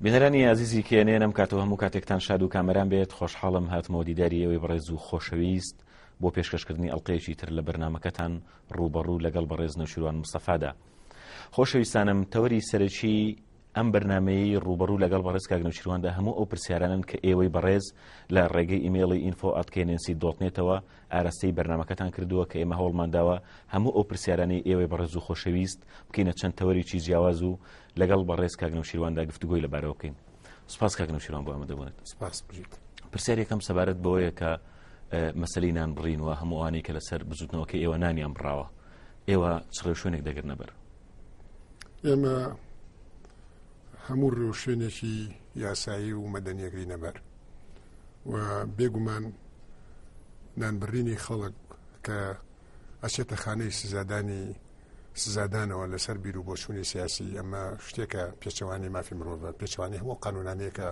بینەرانی ئازیزی کێ نێنم کاتەوە هەموو کاتێکتان شاد و کامەران بێت خۆشحاڵم هاتمەوە دیداری ئێوەی بەڕێز و خۆشەویست بۆ پێشکەشکردنی ئەڵلقەیەکی تر لە بەرنمەکەتان ڕوبەڕوو لەگەڵ بەڕێز نەوشیروان مستەفادا خۆشەویستانم تەوەری سەرەکی ئەم بەرنمەیە ڕوبەڕوو لەگەڵ بەڕێز کاگنەوشیرواندا هەموو ئەو پرسیارانن کە ئێوەی بەڕێز لە ڕێگەی ئیممەڵی ئینفۆ ئەتکەێنسی دۆتنێتەوە ئاراستەی بەرنمەکەتان کردووە کە ئێمە هەوڵمانداوە هەموو ئەو پرسیارانی ئێوەی بەڕێز و خۆشەویست بکەینە چەند تەوەرێکی جیاواز و لەگەڵ بەڕێز کاک نەوشیرواندا گفتوگۆی لەبارەوە بکەین سپاس کاک نەوشیروان بۆ ئەمە دەبونێت سپاس بژیت پرسیارێکم سەبارەت بەوەیە کە مەسلی نان بڕین و هەمووانی کە لەسەر بزوتنەوەکە ئێوە نانیان بڕاوە ئێوە چ ڕێوشوێنێک دەگرنە بەر ئێمە هەموو ڕێوشوێنێکی یاسایی و مەدەنیەکەی نەبەر و بێگومان نانبرینی خەڵک کە ئەچێتە خانەی سزادانی سزادانەوە لەسەر بیر و بۆچوونی سیاسی ئەمە شتێکە پێچەوانی مافی مرۆڤە پێچوانی هەموو قانونانەیەکە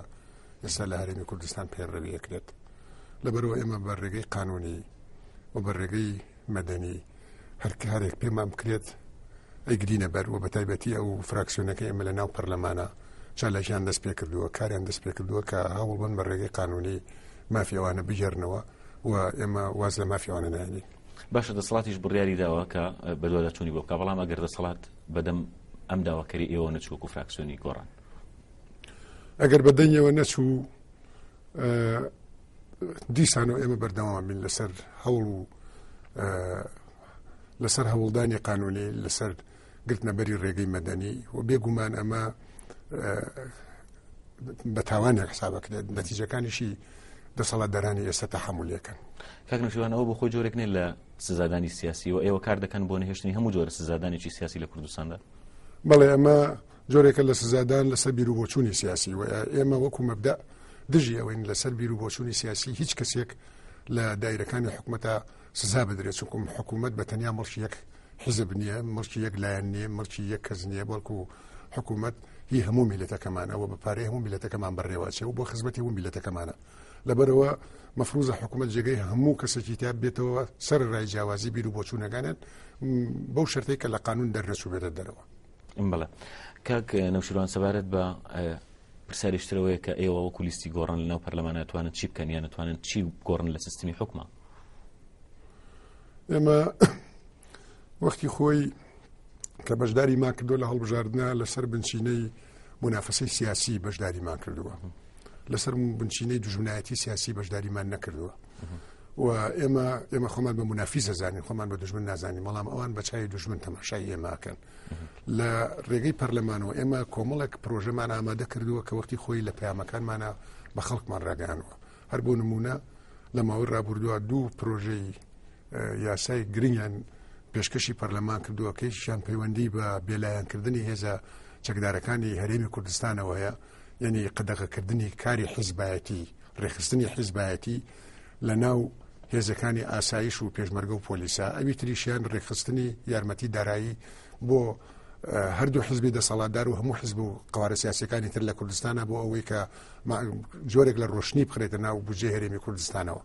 ئێستا لە هەرێمی کوردستان پێڕەویەکرێت لەبەرەوە ئێمە بە ڕێگەی قانونی و بە ڕێگەی مەدەنی هەرکارێک پێمان بکرێت ئەیگرینە بەر و بە تایبەتی ئەو فراکسیۆنەکە ئێمە لە ناو پەرلەمانە چالاکیان دەست پێ کردووە کاریان دەست پێ کردووە کە هەوڵبن بە ڕێگەی قانونی مافیەوانە بگەرنەوە و ئێمە واز لە مافیەوانە نایێنین باشە دەسەڵاتیش بڕیاری داوە کە بەدواداچوونی بۆ بکە بەڵام ئەگەر دەسەڵات بەدەم ئەم داواکەری ئێوە نەچووک و فراکسیۆنی گۆڕان ئەگەر بە دەنگەوە نەچوو دیسانەوە ئێمە بەردەوام بین لەسەر هەوڵ و لەسەر هەوڵدانی قانونی لەسەر گرتنەبەری ڕێگەی مەدەنی و بێگومان ئەمە بە تاوانێک حسابەکرێت نەتیجەکانیشی دەسەڵات دەرانی ئێستا تەحملەکەن کاکنشیوانەوە بۆ خۆی جۆرێک نێ لە سزادانی سیاسی و ئێوە کار دەکەن بۆ نهێشتنی هەموو جۆرە سزادانێکی سیاسی لە کوردستاندا بەڵێ ئەمە جۆرێکە لە سزادان لەسەر بیر و بۆچوونی سیاسی و ئێمە وەکو مەبدا دژی ئەوەین لەسەر بیر و بۆچوونی سیاسی هیچ کەسێک لە دایرەکانی حکوومەتە سزا بدرێت چونکم حکوومەت بە تەنیا مڵکی یەک حیزب نییە مڵکی یەک لایەن نییە مڵکی یەک کەس نییە بەڵکو حکوومەت هی هەموو میلەتەکەمان ئەوە بە پارەی هەموو میلەتەکەمان بەڕێوەچێ و بۆ خزمەتی و میلەتەکەمانە لەبەرەوە مەفروزە حکوومەت جێگەی هەموو کەسێکی تا بێتەوە سەر ڕای جیاوازی بیر و بۆچوونەکانێت بەو شەرتەی کە لە قانون دەرنەچوو بێتە دەرەوە بڵێ کاک نەوشیروان سەبارەت بە پرسیاریش تر ئەوەیە کە ئێوە وەکو لیستی گۆڕان لەناو پەرلەمان ناتوانن چی بکەن یان نتوانن چی گۆڕن لە سیستمی حکومە ئێمە وەختی خۆی کە بەشداری ما کردو لە هەڵبژاردنە لەسەر بنچینەی منافەسەی سیاسی بەشداریمان کردووە لەسەر بنچینەی دژمنایەتی سیاسی بەشداریمان نەکردووە و ئێمە ئێمە خۆمان بە منافی زەزانانی خۆمان بە دژمن نازانانی بەڵام ئەوان بە چای دژمن تەماشای ئێماکەن لە ڕێگەی پەرلەمانەوە ئێمە کۆمەڵێک پرۆژەمان ئامادە کردووە کە وەختی خۆی لە پەیامەکانمانە بە خەڵکمان ڕاگەیانەوە هەر بۆ نمونە لە ماوەی ڕابردووە دوو پرۆژەی یاسای گرنگیان پێشکەشی پەرلەمان کردووە کەیشیان پەیوەندی بە بێلایەنکردنی هێزە چەکدارەکانی هەرێمی کوردستانەوەیە یعنی قەدەغەکردنی کاری حیزبایەتی ڕێخستنی حیزبایەتی لە ناو هێزەکانی ئاسایش و پێشمەرگە و پۆلیسا ئەوی تریشیان ڕێکخستنی یارمەتی دارایی بۆ هەردوو حزبی دەسەڵاتدار و هەموو حزب و قوارە سیاسەکانی تر لە کوردستانە بۆ ئەوەی کە جۆرێک لە ڕۆشنی بخرێتە ناو بجێ هەرێمی کوردستانەوە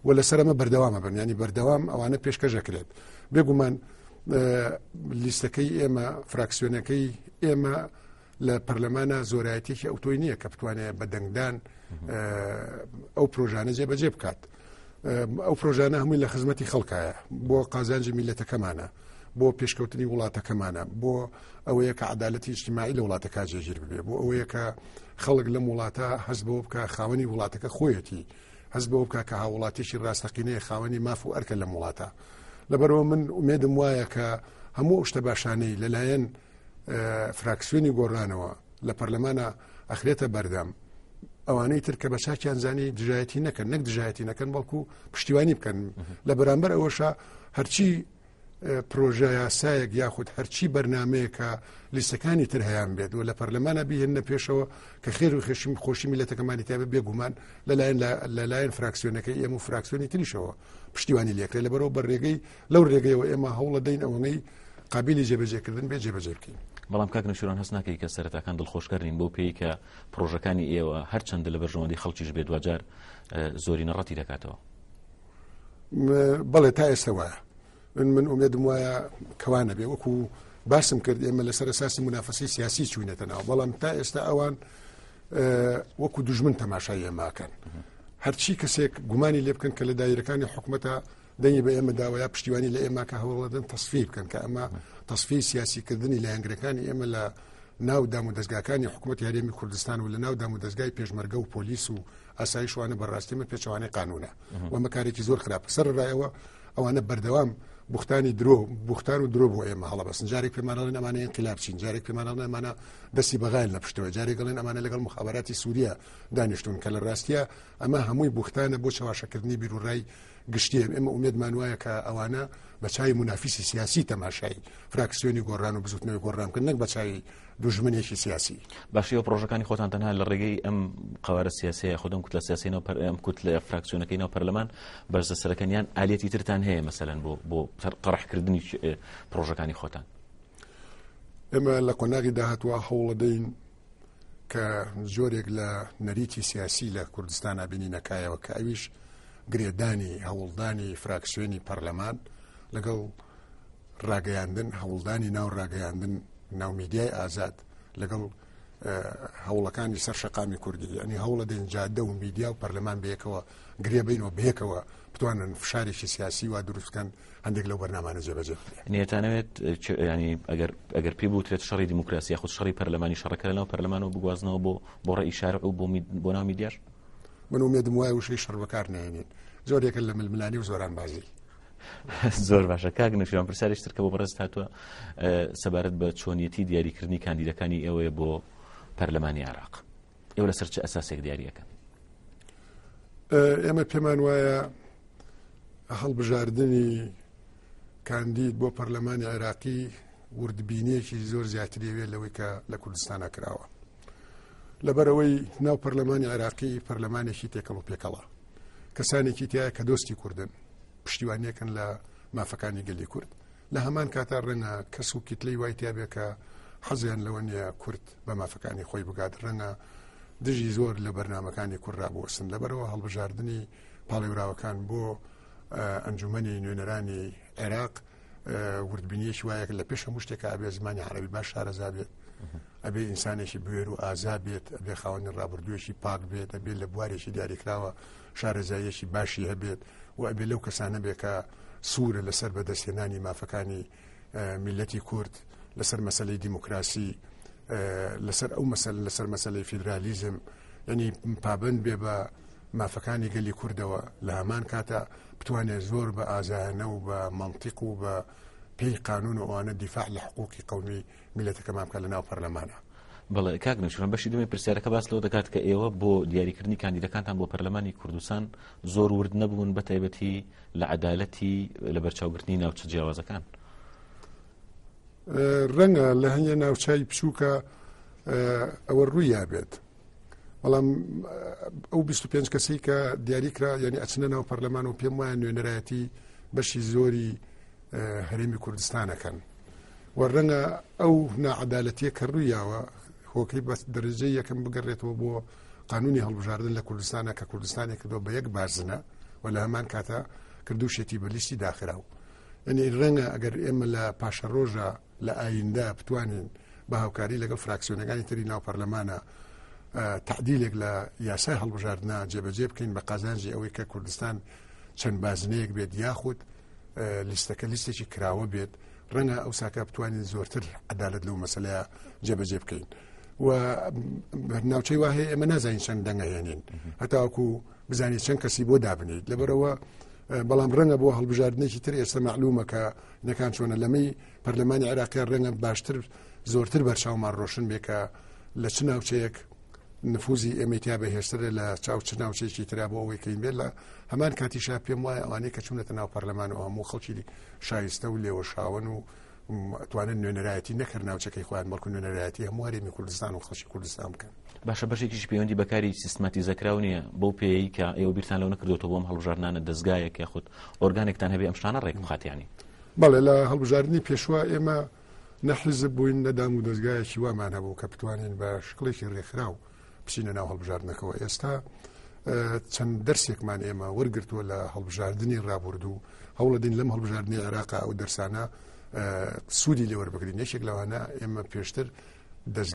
و لەسەر ئەمە بەردەوامە بن ینی بەردەوام ئەوانە پێشکەشەکرێت بێگومان لیستەکەی ئێمە فراکسیۆنەکەی ئێمە لە پەرلەمانە زۆرایەتێکی ئەوتۆی نییە کە بتوانێت بە دەنگدان ئەو پرۆژانە جێبەجێ بکات. ئەو پرۆژانە هەمووی لە خزمەتی خەڵکایە بۆ قازانجی میلەتەکەمانە بۆ پێشکەوتنی وڵاتەکەمانە بۆ ئەوەیە کە عدالەتی اجتماعی لە وڵاتەکە جێگیر ببێ بۆ ئەوەیە کە خەڵک لەم وڵاتە هەست بۆ بکە خاوەنی وڵاتەکە خۆیەتی هەست بۆ بکە کە هاوڵاتیشی ڕاستەقینەیە خاوەنی ماف و ئەرکە لەم وڵاتە لەبەرەوە من ئومێدم وایە کە هەموو شتە باشانەی لەلایەن فراکسیۆنی گۆڕانەوە لە پەرلەمانە ئەخرێتە بەردەم ئەوانەی تر کە بە چاکیان زانی دژایەتی نەکەن نەک دژایەتی نەکەن بەڵکو پشتیوانی بکەن لە بەرامبەر ئەوەشە هەرچی پرۆژە یاسایەک یاخود هەرچی بەرنمەیەکە لیستەکانی تر هەیان بێت و لە پەرلەمانە بهێنە پێشەوە کە خێر و خێشمی خۆشی میلەتەکەمانی تابە بێگومان لەلایەن لەلایەن فراکسیۆنەکەی ئێمە و فراکسیۆنی تریشەوە پشتیوانی لێکرێت لە بەرەوە بە ڕێگەی لەو ڕێگەیەوە ئێمە هەوڵە دەین ئەوەنەی قابلی جێبەجێکردن بێ جێبەجێ بکەین بەڵام کاک نەشوران هەست ناکەی کە سەرەتاکان دڵخۆشکردین بۆ پێی کە پرۆژەکانی ئێوە هەرچەندە لە بەرژەوەندی خەڵکیش بێت دوجار زۆری نەڕەتی دەکاتەوە بەڵێ تا ئێستا وایە من من ئومێدم وایە کەوا نەبێ وەکو باسم کرد ئێمە لەسەر ساسی منافسی سیاسی چوینەتە ناو بەڵام تا ئێستا ئەوان وەکو دژمن تەماشای ئێماکەن هەرچی کەسێک گومانی لێ بکەن کە لە دایرەکانی حکوومەتە دەنگی بە ئێمە داوایە پشتیوانی لە ئێمە کە هەوڵدن تصفی بکەن کە ئەمە تصفی سیاسیکردنی لایەنگرەکانی ئێمە لە ناو دام و دەستگاکانی حکوومەت یاریێمی کوردستان و لە ناو دام و دەستگای پێشمەرگە و پۆلیس و ئاسایشوانە بەڕاستیمە پێچوانەی قانونە و مەکارێکی زۆر خراپ سەر ڕایەوە ئەوانە بەردەوام بوختانی درۆ بوختان و درۆ بۆ ئێمە هەڵبەسن جارێک پێمانڵێن ئەمانە انقلابچین جارێک پێمانڵێن ئەمانە دەستی بەغایل لە پشتەوە جارێک گەڵێن ئەمانە لەگەڵ مخاباتی سووریا دانیشتون کە لە ڕاستە ئەمە هەمووی بوختانە بۆ چاواشەکردنی بیرروڕای گشتیم ئێمە ئومێدمان وایە کە ئەوانە بە چای منافیسی سیاسی تەماشای فراکسیۆنی گۆڕان و بزوتنەوەی گۆڕان بکەن نەک بە چای دوژمنێکی سیاسی. باشی و پرۆژەکانی خۆتان تەنها لە ڕێگەی ئەم قوارە سیاسەیە خودم کوت لە سیاسی ناو ئەم کوت لە فراکسیۆنەکەی ناو پەرلەمان بەرزە سەرەکەنیان ئالەتی ترتان هەیە مەسەن بۆ بۆ قڕحکردنی پرۆژەکانی خۆتان. ئێمە لە قۆناغی داهاتوە هەوڵەدەین کە زۆرێک لە نەریتی سیاسی لە کوردستان نبینی نەکایەوە کە ئەویش گرێدانی هەوڵدانی فراکسیۆنی پەرلەمان لەگەڵ ڕاگەیاندن هەوڵدانی ناو ڕاگەیاندن ناو میدیای ئازاد لەگەڵ هەوڵەکانی سەر شقامی کوردی ینی هەوڵە دێن جادە و میدیا و پەرلەمان بەیەکەوە گرێبینەوە بەیەکەوە بتوانن فشارێکی سیاسی وا دروستکەن هەندێک لەو بەرنامانە جێبەجێ نێتانەوێت ینی ئەگەر ئەگەر پێ بوترێت شەڕی دیموکراسی خود شەڕی پەرلەمانی شەڕەکە لەناو پەرلەمانەوە بگوازنەوە بۆ بۆ ڕێی شارع و بۆ بۆ ناو میدیار من ومێدم وایە وشەی شەڕ بەکار نێنین زۆرێکە لە ململانی و زۆران بازی زۆر باشە کاک نەوشیروان پرسیارێک تر کە بۆ بەڕێزت هاتووە سەبارەت بە چۆنیەتی دیاریکردنی کاندیدەکانی ئێوەیە بۆ پەرلەمانی عراق ئێوە لەسەر چ ئەساسێک دیاریەکەن ئێمە پێمان وایە هەڵبژاردننی کاندید بۆ پەرلەمانی عێراقی وردبینیەکی زۆر زیاتریەوێت لەوەی کە لە کوردستانە کراوە لەبەرەوەی ناو پەرلەمانی عێراقی پەرلەمانێکی تێکەڵ و پێکەڵە کەسانێکی تایە کە دۆستی کوردن پشتیوانیەکەن لە مافەکانی گەلی کورد لە هەمان کاتا ڕەنگە کەس و کیتلی وای تیاابێکە حەزیان لەوە نیە کورد بە مافەکانی خۆی بگات ڕەنگە دژی زۆر لە بەرنمەکانی کوردرا بۆسن لەبەرەوە هەڵبژاردننی پاڵێوراوەکان بۆ ئەنجومنی نوێنەرانی عێراق وردبینیەکی وایە لە پێش هەموو شتێک ئەبێ زمانی عربی باش شارەزا بێت ئەبێ ئینسانێکی بوێر و ئازا بێت ئەبێ خاوەنی ڕابردوویەکی پاک بێت ئەبێ لە بوارێکی دیاریکراوە شارەزاییەکی باشی هەبێت و ئەبێ لەو کەسانە بێکە سوورە لەسەر بەدەستهێنانی مافەکانی میلەتی کورد لەسەر مەسلەی دیموکراسی لەسەر ئەو مەسل لەسەر مەسلەی فیدرالیزم ینی پابند بێ بە مافەکانی گەلی کوردەوە لە هەمان کاتا بتوانێت زۆر بە ئازایانە و بە مەنتیق و بە پێی قانون و ئەوانە دیفاع لە حقوقی قومی میلەتەکەمان بکە لە ناو پەرلەمانە بەڵێ کاک نوشرم بەشی دومی پرسیارەکە باس لەوە دەکات کە ئێوە بۆ دیاریکردنی کاندیدەکانتان بۆ پەرلەمانی کوردستان زۆر ورد نەبوون بە تایبەتی لە عدالەتی لە بەرچاوگرتنی ناوچە جیاوازەکان ڕەنگە لە هەنگە ناوچوی بچووکە ئەوە ڕوویا بێت بەڵام ئەو 25 کەسی کە دیاریکرا ینی ئەچنە ناو پەرلەمان و پێم وایە نوێنەرایەتی بەشی زۆری هەرێمی کوردستانەکەن و ڕەنگە ئەو ناعادالەتیە کە ڕوویاوە هۆکەی بەس دەرجەی یەکەم بگەڕێتەوە بۆ قانونی هەڵبژاردن لە کوردستانە کە کوردستانی کردو بە یەک بازنە و لە هەمان کاتە کردوشێتی بە لیستی داخراو ئەنی ڕەنگە ئەگەر ئێمە لە پاشە ڕۆژە لە ئایندە بتوانین بە هاوکاری لەگەڵ فراکسیۆنەکانی تری ناو پەرلەمانە تعدیلێک لە یاسای هەڵبژاردنا جێبەجێ بکەین بە قازانجی ئەوەی کە کوردستان چەند بازنەیەک بێت یاخود لیستەکە لیستێکی کراوە بێت ڕەنگە ئەو ساکە بتوانین زۆرتر عدالت لەو مەسلەیە جێبەجێ بکەین و ناوچەی واهەیە ئێمە نازانین چەند دەنگە هێنین هەتاوەکو بزانانی چەند کەسی بۆ دابنیت لەبەرەوە بەڵام ڕەنگە بۆ هەڵبژاردنێکی تر ئێستا معلومەکە نەکان چۆنە لەمەی پەرلەمانی عێراقیان ڕێنە باشتر زۆرتر بەرچاومان ڕۆشن بێ کە لە چ ناوچەیەک نفوزی ئەمەتیا بە هێشترە لە چاو چ ناوچێکی تررا بۆ ئەوەی کەین بێت لە هەمان کاتیشا پێم وایە ئەوانەیە کە چونەتە ناو پەرلەمان و هەموو خەڵکی شایستە و لێوە شاون و توانن نوێنەرایەتی نەکرد ناوچەکەی خۆیان بەڵکو نوێنەرایەتی هەموو هەرێمی کوردستان و خەڵکی کوردستان بکەن باشە بەشێکیش پەیوەندی بەکاری سیستماتی زەکراو نییە بەو پێیکە ئێوە بیرتان لەو نەکردوەوە بۆم هەڵبژارنانە دەستگایەک یاخود ئۆرگانێکتان هەبێ ئەم شتانە ڕێک بخاتیانی بەڵێ لە هەڵبژاردنی پێشوە ئێمە نەحیزب بووین نە دام و دەستگایەکی وامان هەبوو کە بتوانین بە شکڵێکی ڕێکخراو بچینە ناو هەڵبژاردنەکەەوە ئێستا چەند دەرسێکمان ئێمە وەرگتووە لە هەڵبژاردننی ڕابردوو هەوڵەدین لەم هەڵبژاردننی عێراقا ئەو دەرسانە سوودی لێوەربگرین یەکێک لەوانە ئێمە پێشتر دەست